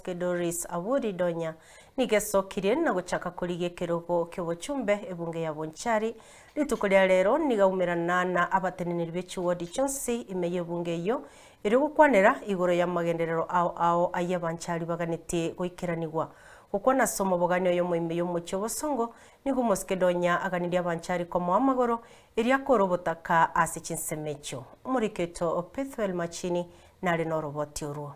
Doris Awori Donya nigo esokirie na gochaka korigia ekerogo ki'obochumbe ebunge ya Bonchari. Rituko ria rero nigo aumerana na abateneneri be chiwodi chionsi ime y'ebunge eyio ere ogokwanera igoro y'amagenderero ao ao ayia Banchari baganete goikeranigwa. Gokwana ase omobogani oyomo ime y'omochie o Bosongo nigo omosike Donya aganirie Abanchari komoa amagoro erio akore obotaka ase chinsemo echio. Omorikito Pethuel Machini nare noroboti orwo.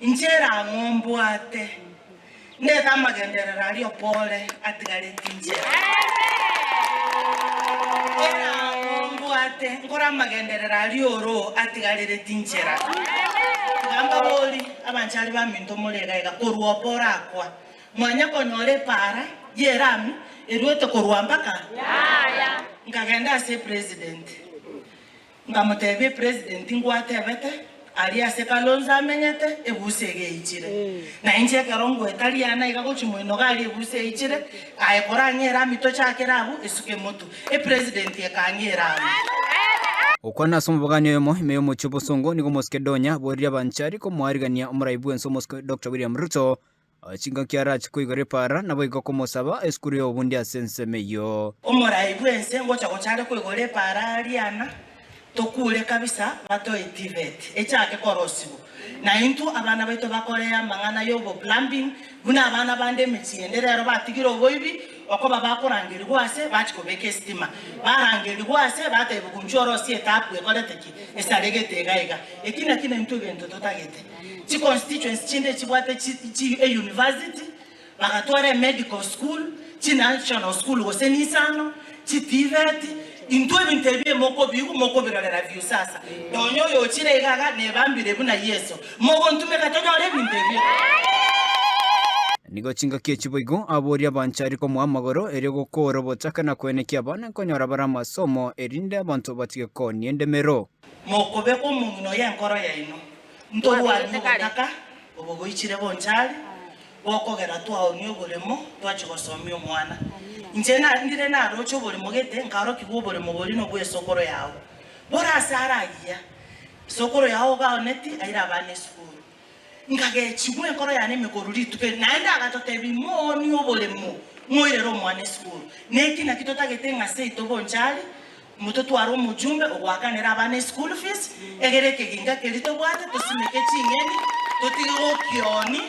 Inche erang'o mbwate? Ndete amagenderero aria opore atigareti inche. Erang'o mbwate? Nkore amagenderero aria oro atigarereti inchera. Tiga mbabori, abanchari baminto more iga iga, korwa opore akwa, mwanya konyora epara y'erami eruete korwa mpaka yaya. Nkagenda ase President. Nkamotebia epresident ngwatebete, aria ase Kalonzo amenyete, ebusi egeichire. Na inche ekero ngoeta Riana iga gochia moinoga aria ebusi eichire, aye korang'eera ami tochakere abwo, esuka emotu. Epresident ekang'eera ami. Okwana ase omobogani oyomo ime y'omochie o Bosongo nigo Moskedonia aboririe abanchari komoarigania omorai bw'ense Omosike Doctor William Ruto O chingaki arache koigora epaara, naboigo komosaba esukuru y'obobundi ase ensemo eyio. Omorai bw'ense ngocha gocha are koigora epaara riana, tokuure kabisa batoe TVET echaake korosiwa, na intwe abana baito bakore amang'ana y'obo plumbing buna abana bande emechie ende rero batigire oboibi okoba bakorangerigwa ase bachi kobeka estima barangerigwa ase bataebwa kunchwa orosie etapu ekorete ki? Esaregete iga iga. Eki naki naintwe egento totagete. Chi constituency chinde echibwate euniversity, bagatwara emedical school, chi national school gose nisano, chi TVET, intwe ebinto ebio mokobiigwa mokobirorera view sasa. Nonya oyochire iga iga nebambire buna Yeso. Mogontumeka tonyore ebinto ebio. Nigo chingaki echi boigo abori abanchari komoa amagoro, erio gokoora obochake na koenekia abana nkonyora bare amasomo, erinde abanto batige koonia endemero. Mokobe kw'omong'ina oyo enkoro yaino. Ntorwanie ogotaka obo goichire bonchari, gokogera twaoonia oboremo twachia gosomia omwana. Inche narndire naroche oboremo gete, nkarokigwa oboremo boria nobwa esokoro yao. Bora ase ara agiya, esokoro yao ogaoneti aire abana esukuru. Nkagechigwa enkoro yane emegoru rituko eri, naende agatotebia, Mooni oboremo, moirere omwana esukuru. Neki naki totagete ng'a seito bonchari mototware omojumbe ogoakanera abana eschool fees, egere ekeginga keria tobwate tosimeke ching'eni, totige gokioni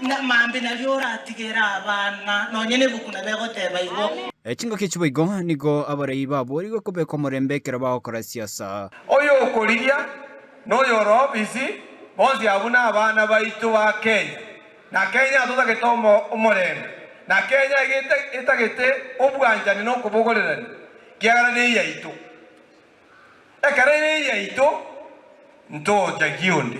na maambia nario oratigere abana nonya nebuku na begoteba igo. Chingaki echi boigo nigo abarai baboorigwe kobeka omorembe ekero bagokora siasa. Oyokorigia. Noyoro obisi, bonsi abwo nabana baito ba Kenya, na Kenya atotagete omorembe, na Kenya iga etagete obwanchani na okobogorerania, kiagera neyaito. Ekero ere eyaito, ntochagia onde,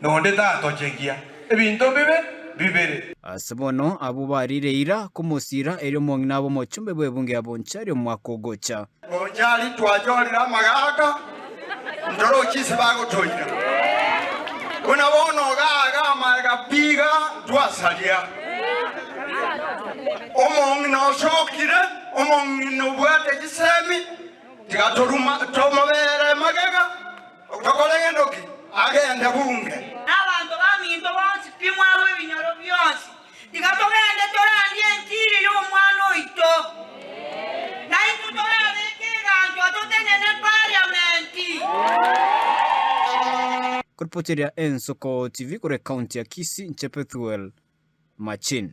na onde tatochegia. Ebinto bibe bibere. Ase bono abwo bariire eira komosira, erio omong'ina abe omochombe bw'ebungo ya Bonchari omwaka ogocha. Ochari twayorire amagaaka, ntoro chinse bagotoira. Buna bono ogaaga amaega piga ntwasaria. Omong'ina osokire, omong'ina obwate chisemi, tiga toruma- tomobere magega, tokore gento ki, agende bunge. Abanto baminto bonsi, timwarwa ebinyoro bionsi. Tiga togende torandie enchiri y'Omwana oito, naintwe torabeke eganchwa totenene Parliament. Koripotiria Ensuko TV kore County ya Kisii inche Pethuel Machin.